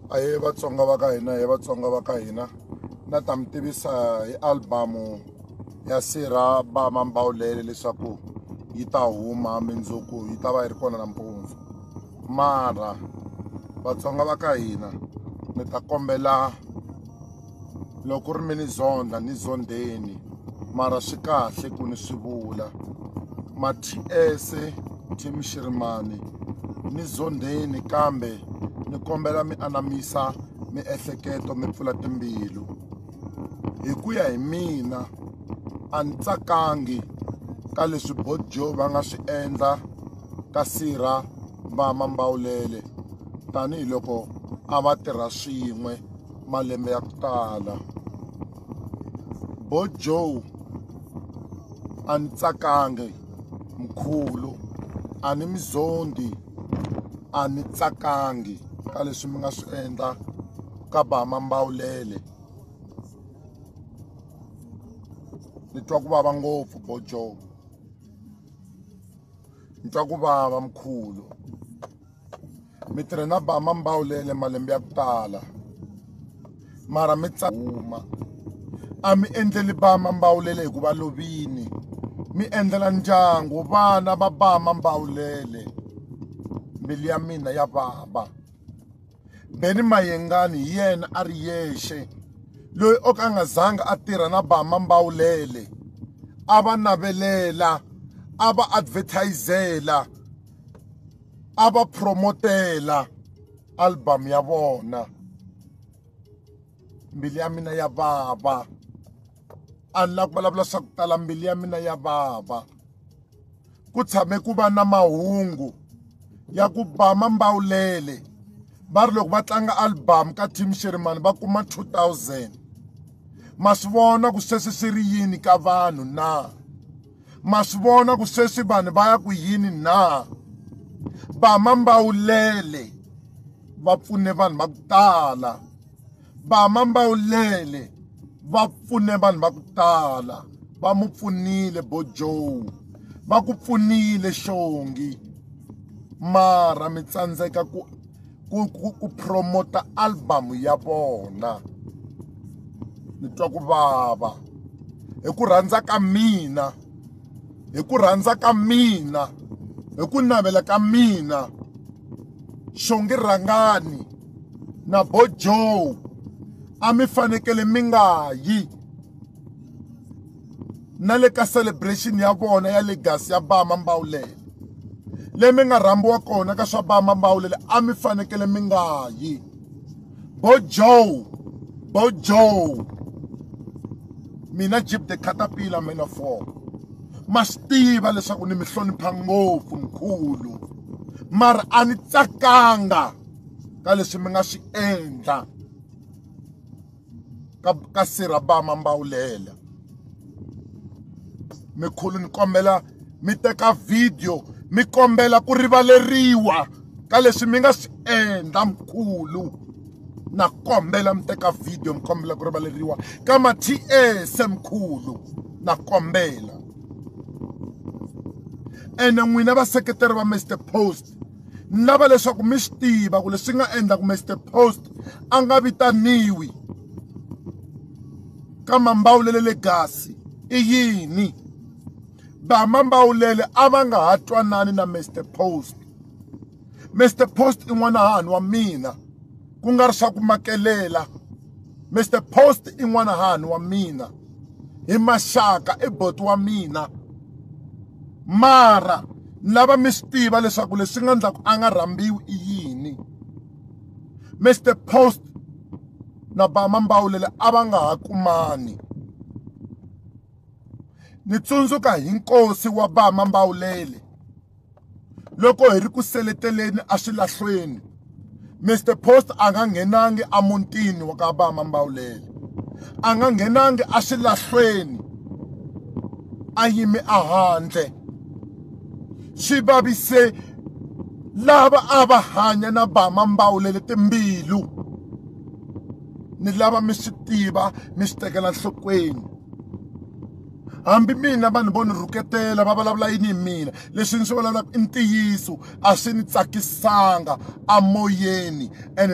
ahee vatsonga va ka hina hi vatsonga va ka hina na ta mi tivisa hi albamu ya sirha ba mambawulele leswaku yi ta huma mindzuku yi ta va yi ri kona nampundzu mara vatsonga va ka hina ni ta kombela loko ku ri mi ni zondha ni zondheni mara swi kahle ku ni swi vula ma-ts team shirimani ni zondheni kambe ni kombela mi anamisa miehleketo mi pfula timbilu hi ku ya hi mina a ni tsakangi ka leswi bodjo va nga swi endla ka sirha va mambawulele tanihiloko a va tirha swin'we malembe ya ku tala bo joe a ni tsakangi mkhulu a ni mi zondi a ni tsakangi ka leswi mi nga swi endla ka bama mbawulele ni twa ku vava ngopfu bo joe ni twa ku vava mkhulu mi tirhe na ba mambawulele malembe ya ku tala mara mi huma a mi endleli ba mambawulele hikuva lovini mi endlela ndyangu vana va ba mambawulele mbilu ya mina ya vava beni mayengani hi yena a ri yexe loyi o ka a nga zanga a tirha na ba mambawulele a va navelela a va advertisela a va promotela album ya vona mbilu ya mina ya vava a ni la ku vulavula swa ku tala mbilu ya mina ya vava ku tshame ku va na mahungu ya ku ba mambawulele va ri loko va tlanga album ka team sherimani va kuma 2000 ma swi vona ku sweswi swi ri yini ka vanhu na ma swi vona ku sweswi vanhu va ya ku yini na bama mbawulele va pfune vanhu va ku tala bama mbawulele va pfune vanhu va ku tala va mu pfunile bo joe va ku pfunile xongi mara mi tsandzeka ku ku ku ku promoter album ya vona ni twa ku vava hi ku rhandza ka mina hi ku rhandza ka mina hi ku navela ka mina xongi rhangani na bojo a mi fanekele mi nga yi na le ka celebration ya vona ya legacy ya bama mbawulele leyi mi nga rhambiwa kona ka swa bama mbawulele a mi fanekele mi nga yi bo joe bo joe mina jip the caterpillar mina four ma swi tiva leswaku ni mi hlonipha ngopfu mkhulu mara a ni tsakanga ka leswi mi nga swi endla ka, ka sirabama mbawulela mikhulu ni kombela mi teka video mi kombela ku rivaleriwa ka leswi mi nga swi endla mkhulu na kombela mi teka video mi kombela ku rivaleriwa ka ma-ts mkhulu na kombela ene n'wina vaseketeri va mr post ni lava leswaku mi swi tiva ku leswi nga endla ku mr post a nga vitaniwi ka mambawulele le gasi i yini vamambawulele a va nga ha twanani na mr post mr post i n'wana hahani wa mina ku nga ri swa ku makelela Mr Post i n'wanahani wa mina hi maxaka i boti wa mina mara ni lava mi swi tiva leswaku leswi nga endlaku a nga rhambiwi i yini Mr Post na Bama Mbawulele a va nga ha kumani ni tsundzuka hi nkosi wa Bama Mbawulele loko hi ri ku seleteleni eswilahlweni mr post a nga nghenangi emutini wa ka vama mbawulele a nga nghenangi eswilahlweni a yime ehandle swi vavise lava a va hanya na vama mbawulele timbilu ni lava mi swi tiva mi swi tekela nhlokweni hambi mina vanhu vo ni rhuketela va vulavula yini hi mina leswi ni swi vulavulaka i ntiyiso a swi ni tsakisanga amoyeni and